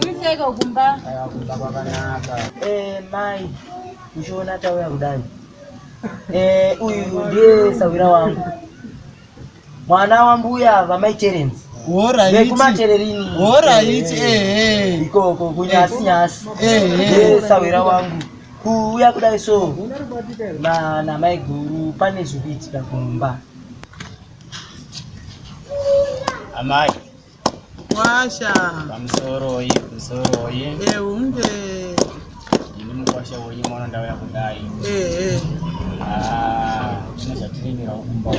Kuiseko kumba. Kumba kwakanaka. Eh mai. Uchiona tauya kudai. Eh uyu ndiye sawira wangu. Mwana wa mbuya va mai Terence. Vekumatererini. Horaiti eh, eh. eh. Ikoko kunyasi nyasi. Eh. Ndiye sawira wangu. Kuuya kudai so. Na na mai guru pane zvikuitika kumba. Amai. Kwasha. Pamusoro oye, pamusoro oye. Eh, unge. Ini mukwasha oye mwana ndauya kudai. Eh, eh. Ah, zvine zvatirimira kumba.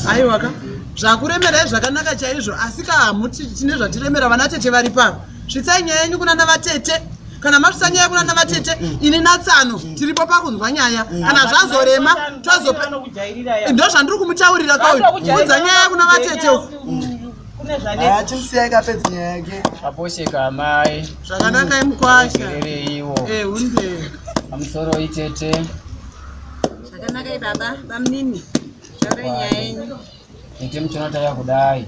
Aiwa ka. Zvakuremera zvakanaka chaizvo asi ka hamuti tine zvatiremera vana tete vari papa. Svitsai nyaya yenyu kuna navatete kana masvitsa nyaya kuna navatete ini natsano tiripo pakunzwa nyaya kana zvazorema tozope ndo zvandiri kumutaurira kauyu kunza nyaya kuna vatete zvakanaka imukwashaereiwo eh, pamusoro itete zvakanaka ibaba bamnini zvaurei nyaya yenyu tete muchonotaya kudai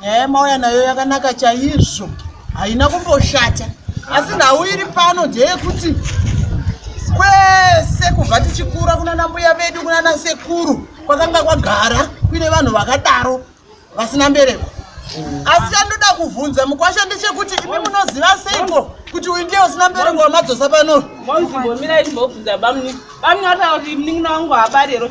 nyaya yamauya nayo yakanaka chaizvo haina kumboshata asi nhau iri pano ndeyekuti kwese kubva tichikura kunana mbuya vedu kunana sekuru kwakanga kwagara kuine vanhu vakadaro vasina mbereko asi chandoda kuvhunza mukwasha ndechekuti imi munoziva seiko kuti uyu ndiye usina mbereko wamadzosa pano mozimbomirai timbobvunza bamni bamni vataura kuti mnin'ina wangu haabarero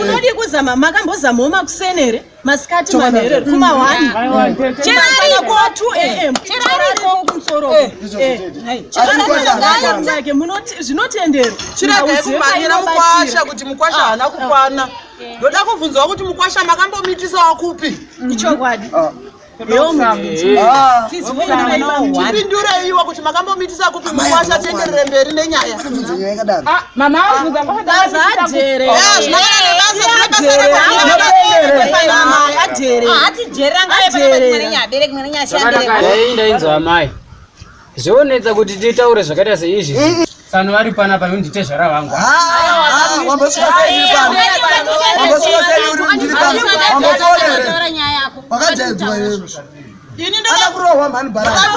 unodii kuzama makambozamawo makuseni here masikati manherero kuma one cheraikuwa two am cheraiko kumusoro cheraike zvinotendero chiragai kumhanyira mukwasha kuti mukwasha haana kukwana ndoda kubvunzawo kuti mukwasha makambomitisa wakupi ichokwadi tipindureiwo kuti makambomitisa kupi mukwasha tienderere mberi nenyaya ndainzwa amai zvonetsa kuti titaure zvakaita seizvi sanu vari pana pano nditezvara vangu wakajaidzwa iwe akakurohwa mhani baraaiwe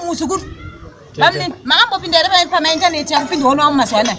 muzukuru maambopinda here pamaintaneti akupinda wonowa mumazuva anaya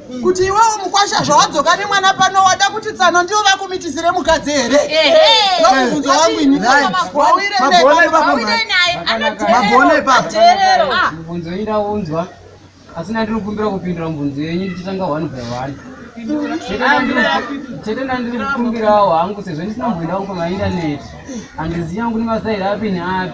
kuti iwewo mukwasha zvawadzoka nemwana pano wada kuti tsano ndiyo vakumitisire mukadzi here ndomubvunzo wangu ini wauire mabhona ipapamubvunzo ida unzwa asi nandiri kukumbira kupindura mubvunzo yenyu ndichitanga one by one chete ndandiri kukumbirawo hangu sezvo ndisina mboinda kupamaindaneti handizivi yangu nemasairi api neapi